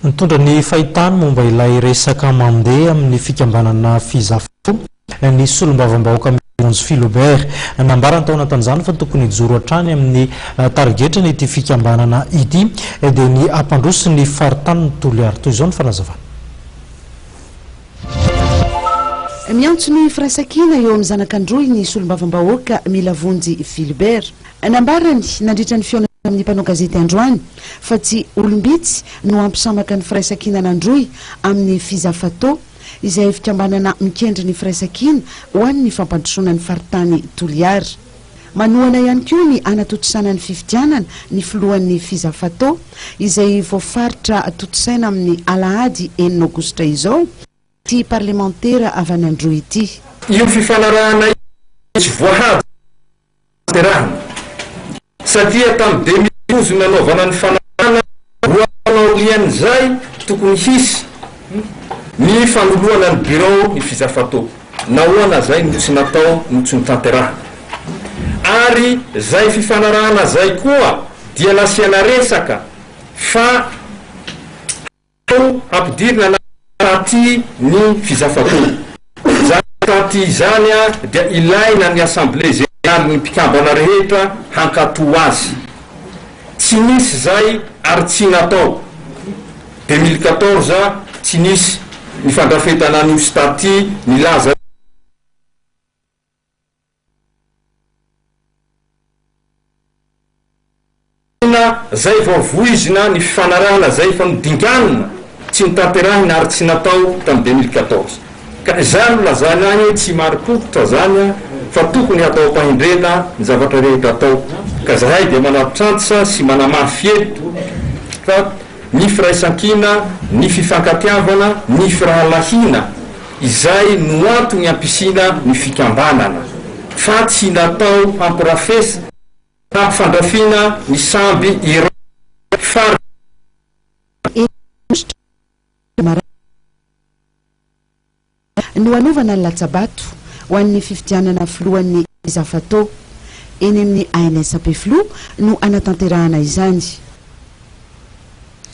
Nitondra ny fahitany momba ilay resaka mandeha amin'ny fikambanana Fizafo ny solombavambahoaka Mironjo Philobert. Nambarany tao anatin'izany fa tokony hijoro hatrany amin'ny tarigetrany ity fikambanana ity dia ny hampandroso ny faritanin'i Toliary. Toy izao ny fanazavana. Miantso ny firaisankina eo amin'ny zanak'Androy ny solombavambahoaka Milavonjy Philibert. Nambarany nandritra ny fihaonana amin'ny mpanao gazety androany fa tsy olom-bitsy no hampisamaka ny Firaisankina nandrohy amin'ny Fizafato, izay fikambanana mikendry ny firaisankina ho an'ny fampandrosoana ny faritany Toliara. Manohana ihany koa ny hanatontosana ny fifidianana ny filohan'ny Fizafato, izay voafaritra tontosaina amin'ny alahady enina aogositra izao, ity parlemantera avy any Androy ity. Io fifanarahana io no tsy voahaja. nahaterahana. Satria tamin'ny demi-douze nanaovana ny fanarahana roa taona aorian'izay tokony hisy ny fanoloana ny birao ny fizafatao. Nahoana izay no tsy natao no tsy notanterahana? Ary izay fifanarahana izay koa dia nasiana resaka fa. Tao ampidirina na taty ny fizafakoa. Izany taty izany dia ilaina ny Assemblée Générale ny mpikambana rehetra hankato azy. Tsy nisy izay ary tsy natao. 2014 tsy nisy ny fandrafetana an'io staty nilaza io. Inona zay vao voizina ny fifanarahana zay fa nodinganina tsy notanterahina ary tsy natao tam deux mille quatorze ka izany no lazaina ahy tsy marim-pototra zany an fa tokony hatao am-pahendrena ny zavatra rehetra atao ka zahay dia manatitranty sy manamafy eto fa ny firaisankina, ny fifankatiavana, ny firahalahiana, izay no antony hampisiana ny fikambanana, fa tsy natao hampirafes, hampifandrafiana ny samby iray faritra. Eny, Andriamanitra, Marary ny Fiangonana. no hanaovana ny latsabato ho an'ny fifidianana filohan'ny Zafato. Eny amin'ny ANS Ampefiloha no hanatanterahana izany.